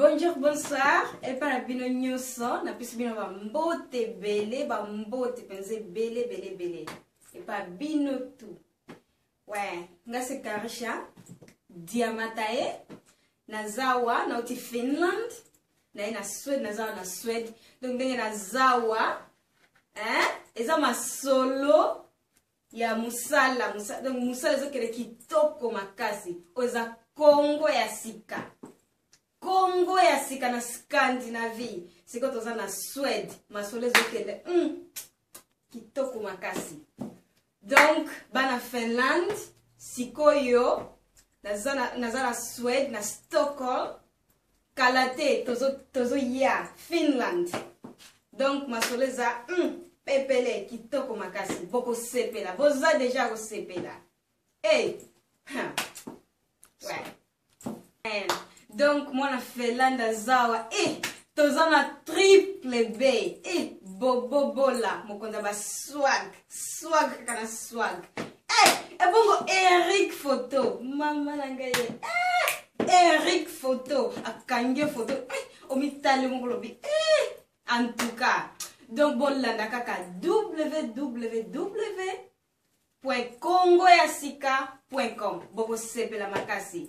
bonjour bonsoir epa na bino nyonso napesi bino bambote ebele bambote mpenza ebele ebele ebele epa bino tu we nga se karisha diamataye naza wa nauti finland naye na swede naza wa na swede donc ndenge naza wa eh? eza masolo ya musala musala donc musala ezokende kitoko makasi oyo eza kongo ya sika kongo ya sika na scandinavie sikoyo toza na swede masolo ezokende mm, kitoko makasi donc bana finlande sikoyo naza na swede na stockholm kala te tozo tozo ya finland donc masolo eza mm, pepele kitoko makasi bokosepela boza deja kosepela hey. Huh. Ouais. Eh, donc mwana felanda zawa eh, toza na triple b eh, bobobola mokonzi ya baswag swag kaka na swag Eh, ebongo Eric photo. Mama na ngai. Eh, Eric photo. Akange photo. Eh, omitali moko lobi. Eh, en tout cas. Donc bolanda kaka www.congoyasika.com. Boko sepela makasi.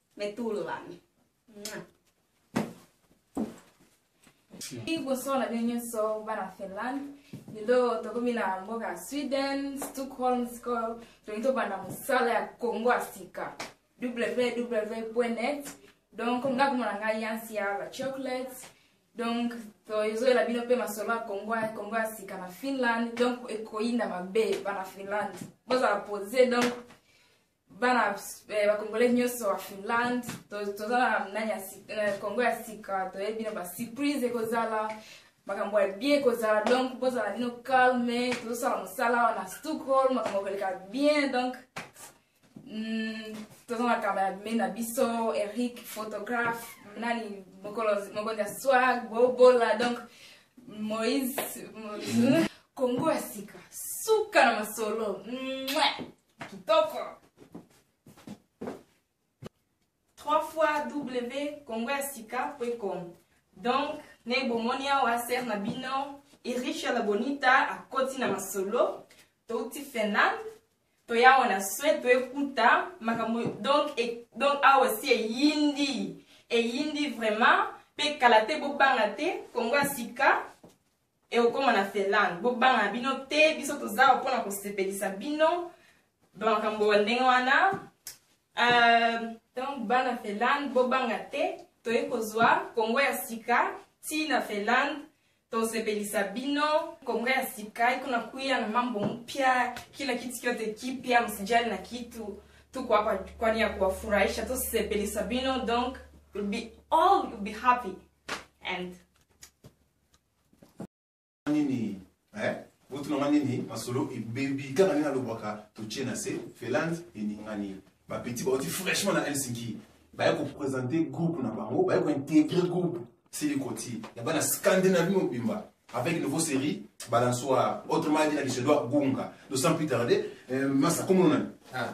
Mais tout le monde. liboso na bino nyonso bana finland lelo tokomi na mboka ya sweden stockholm sikoyo tolingi tobanda mosala ya kongo ya sika www net donc nga komona ngai yansi ya la chocolate donc tozoyela bino mpe masolo ya kongo ya kongo ya sika na finland donc ekoyinda mabe bana finland bozala pose donc bana eh, bakongolais nyonso ya finlande toza na nani ya eh, congo ya sika toyebi na basurprise ekozala makambo ya bien ekozala donc bozala bino calme tozosala mosala awa na stockholm makambo koleka bien donc mm, toza na kamba ya bimei na biso eric photographe nani mokonzi ya swag bobola donc moïse congo ya sika suka na masolo Mwah! kitoko trois fois w congo ya sika point com donc ndenge bomoni awa ser na bino iricha la bonita akoti na masolo touti finlande toya awa na swede toekuta makambo donc, e, donc awa si eyindi eyindi vraiment mpe kala te bobanga te kongo ya sika ekokoma na Finlande bobanga bino te biso toza awa mpona kosepelisa bino bamakambo ya ndenge wana euh, donc bana Finlande bobanga te toyei kozwa kongo ya sika ti na Finlande tosepelisa bino kongo ya sika iko na kuya na mambo mpya kila kitu kyote kipya msijali na kitu tuko hapa kwani ya kuwafurahisha tosepelisa bino donc you'll be all you'll be happy and nini eh? botuna nga nini masolo ebebi kaka nini alobaka totie na se felande eningani bapeti bauti fraîchement na helsinki baye kopresente groupe na bango baye kointegre groupe silikoti ya bana scandinavie mobimba avec nouveau série balançoire autrement dit na lisedoa gunga donc sans plus tarder euh, masa komononani ah.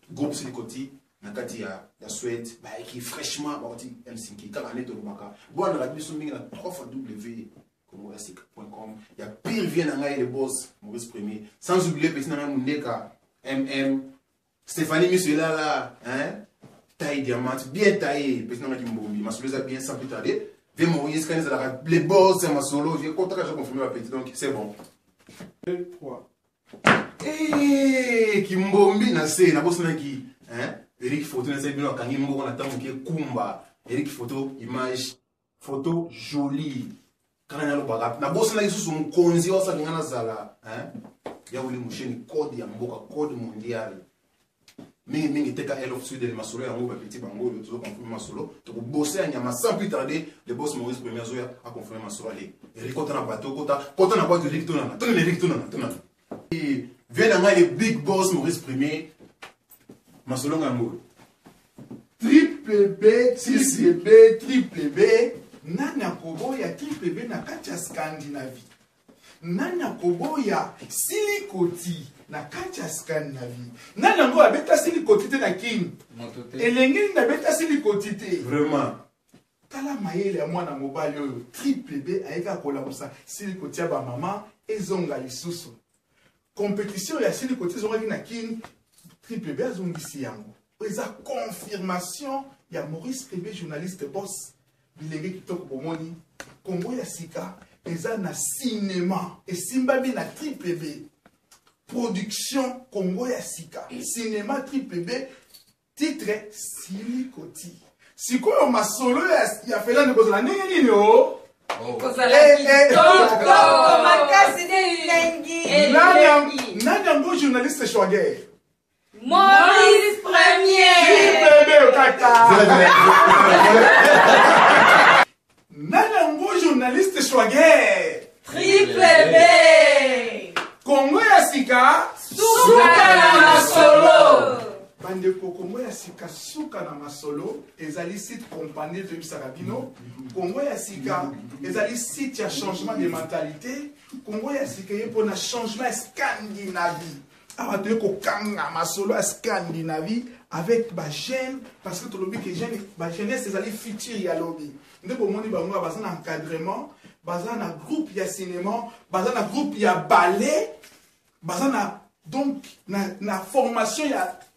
groupe silikoti na kati ya ya swede bayaki fraîchement bakoti helsinki kaka nde tolobaka bolandaka biso mingi na 3 fois w congo ya sika point com ya pire vie na ngai le boss maurice premier sans oublie pesi na ngai mondeka mm stéphanie miso elala hein taille diamante bien taille pesi na ngai kimbombi masolo eza bien sans plus tarder vie maurice kani ezalaka le boss ya masolo vie kotaka je confirme bapeti donc c'est bon 2 3 Hey, kimbombi na se nabosanaki hein? eric foto nasali bino akangi mboko na ntango moke kumba eric foto image foto jolie kana nalobaka nabosanaki susu mokonzi oyo asalinga nazala hein? ya wili musheni code ya mboka code mondial mingi mingi teka L of Sweden masolo yango ba petit bango yo tozo confirmer masolo toko bosser ya nyama sans plus tarder le boss Maurice Premier azoya a confirmer masolo allez Eric kota na bateau kota kota na boîte Eric tonana tonana Eric tonana tonana et viens na ngai le big boss Maurice Premier masolo ngambo triple B triple B triple B nani akoboya triple B na kati ya Scandinavie nani akoboya silikoti na kati ya scandinavie nani yango abeta silikoti te na kin elenge nini abeta silikoti te vraiment tala mayele ya mwana mobali oyo triple b ayeka kolamusa silikoti ya bamama ezonga lisusu Competition ya sili koti ezongaki na kin triple B azongisi yango. Oyo eza confirmation ya Maurice Tribe journaliste boss bilenge kitoko bomoni Congo ya sika eza na cinéma esimbami na triple B production Congo ya sika cinéma triple B titre sili koti sikoyo masolo ya, ya felani kozala ndenge nini o oh? oh. eh, eh. nani yango journaliste shwager Maurice Premier. Bébé, Nani yango journaliste Schwager? Triple B. Congo ya sika suka na masolo. bandeko kongo ya sika suka na masolo ezali site compagnie toyebisaka bino kongo ya sika ezali site ya changement de mentalité kongo ya sika eye mpona changement ya scandinavie awa toye kokanga masolo ya scandinavie avec bajeune parce que tolobi ke bajeunesse ezali futur ya lobi nde bomoni bango baza na encadrement baza na groupe ya cinéma baza na groupe ya ballet baza na donc na, na formation ya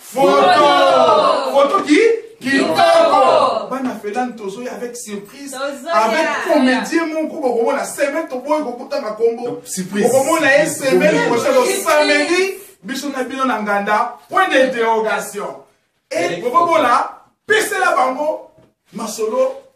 Photo. Photo qui kitoko bana felani tozoya avec surprise avec comédien moko bokomona semaine toboyi kokutaka kombo bokomona ye semaine prochaine samedi biso na bino na nganda point d'interrogation e bokobola pesela bango masolo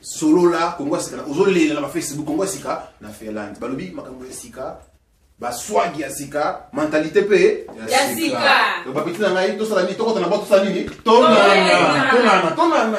solola kongo ya sika ozolela na bafacebook kongo ya sika na finlande balobi makambo ya sika baswagi ya sika mentalite mpe ya sika bapeti na ngai tosala nini tokota na bo tosala nini tonana tonana tonana